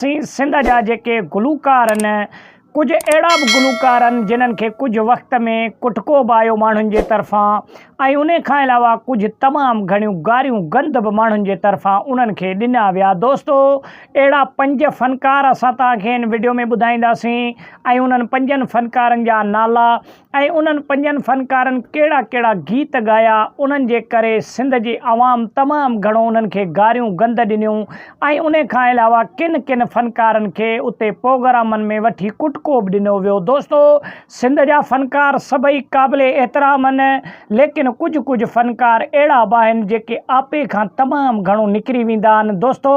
سين سنڌ جا جيڪي گلوڪار ان ڪجهه اهڙا به گلوڪار ان جنهن کي ڪجهه وقت ۾ ڪٽڪو به آيو ماڻهن جي طرفان ۽ انهي کان علاوه ڪجهه تمام گهڻيون گاريون گند به ماڻهن جي طرفان انهن کي ڏنا ويا دوستو اهڙا پنج فنڪار اسان توهان کي ان وڊيو ۾ ٻڌائينداسين ۽ انهن پنجن فنڪارن جا نالا ۽ انهن پنجن فنڪارن ڪهڙا ڪهڙا گيت ڳايا انهن جي ڪري سنڌ جي عوام تمام گهڻو انهن کي گاريون گند ڏنيون ۽ انهي کان علاوه ڪن ڪن فنڪارن کي اتي پوگرامن ۾ وٺي ڪٽڪو به ڏنو ويو دوستو سنڌ جا فنڪار سڀئي قابل احترام آهن ليڪن ڪجهه ڪجهه فنڪار اهڙا به آهن جيڪي آپي کان تمام گهڻو نڪري ويندا آهن دوستو.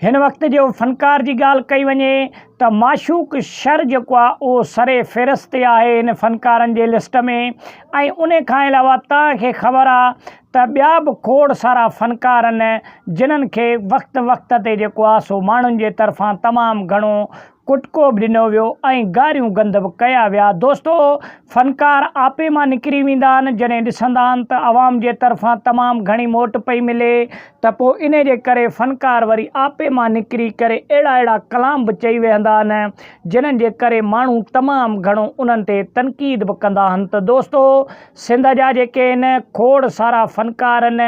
هن وقت جو فنڪار جي ڳالهه ڪئي وڃي ته معشوق شر جيڪو آهي اهو سر فهرست تي آهي هن فنڪارن جي لسٽ ۾ ۽ ان کان علاوه توهان کي خبر آهي ته ٻيا به کوڙ سارا فنڪار آهن جنهن کي وقت وقت تي جيڪو آهي سو ماڻهن جي طرفان تمام گهڻو ڪٽڪو به ڏنو ويو ۽ گاريون گند به ڪيا ويا. دوستو! فنڪار آپي مان نڪري ويندا آهن، جڏهن ڏسندا آهن ته عوام جي طرفان تمام گهڻي موٽ پئي ملي ته پوء انهي جي ڪري فنڪار وري آپي مان نڪري ڪري اهڙا اهڙا ڪلام به چئي ويهندا آهن، جنهن جي ڪري ماڻهو تمام گهڻو انهن تي تنقيد به ڪندا آهن ته دوستو! سنڌ جا جيڪي ان کوڙ سارا فنڪار ان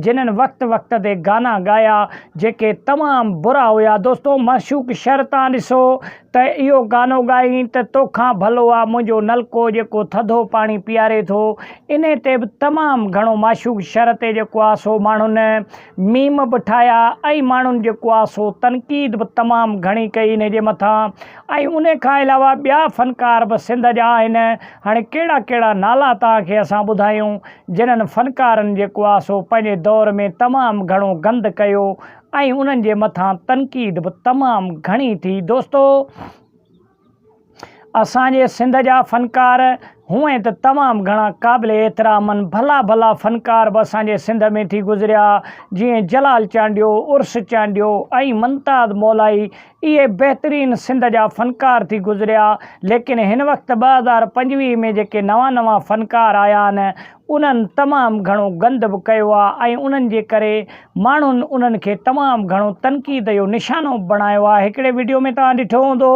جنھن وقت وقت تي گانا ڳايا جيڪي تمام برا ھيا دوستو معشوق شھر تان ڏسو ته اھو گانو ڳائين ته توکان ڀلو آ منھنجو نلڪو جيڪو ٿڌو پاڻي پياري ٿو انھي تي به تمام گھڻو معشوق شھر تي جيڪو آ سو ماڻھن ميم به ٺاهيا ۽ ماڻهن جيڪو آ سو تنقيد به تمام گهڻي ڪئي انهي جي مٿان ۽ انهي کان علاوه ٻيا فنڪار به سنڌ جا آهن هاڻي ڪهڙا ڪهڙا نالا توهان کي اسان ٻڌايون جنهن فنڪارن جيڪو آ سو پنهنجي دور ۾ تمام گهڻو گند ڪيو ۽ انهن جي مٿان تنقيد به تمام گهڻي ٿي دوستو اسان جي سنڌ جا فنڪار هونئن ته تمام گهڻا قابل احترامن ڀلا ڀلا فنڪار به اسان جي سنڌ ۾ ٿي گذريا جيئن جلال چانڊيو عرس چانڊيو ۽ ممتاز مولائي اهي بهترين سنڌ جا فنڪار ٿي گذريا ليڪن هن وقت ٻه هزار پنجويهه ۾ جيڪي نوان نوان فنڪار آيا آهن انهن تمام گهڻو گند به ڪيو آهي ۽ انهن جي ڪري ماڻهن انهن کي تمام گهڻو تنقيد جو نشانو به بڻايو آهي هڪڙي وڊيو ۾ توهان ڏٺو هوندو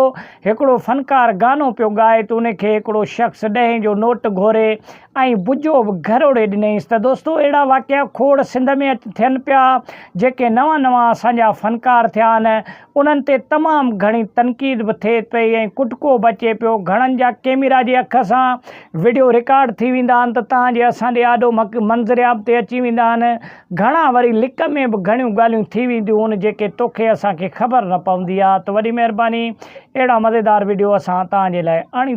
هڪڙو فنڪار گانو پيو ڳائي ته ان کي هڪڙو شخص ڏهين جو نوٽ گهوري ۽ بجو به گهروڙي ڏنيس ته دوستو اهڙا واقعا کوڙ سنڌ ۾ ٿين پيا جيڪي نوان نوان اسان جا فنڪار ٿيا آهن انهن تي تمام گهڻي تنقيد به ٿئي پئي ۽ ڪٽڪو به اچي پيو. گهڻن جا ڪيميرا جي اک سان وڊيو رڪارڊ ٿي ويندا آهن ته تان جي اسان ڏي آڏو مڪ منظرعام تي اچي ويندا آهن. گهڻا وري لڪ ۾ به گهڻيون ڳالهيون ٿي وينديون هون جيڪي توکي اسان کي خبر نه پوندي آهي ته وڏي مهرباني اهڙا مزيدار وڊيو اسان تان جي لاء آڻيندا.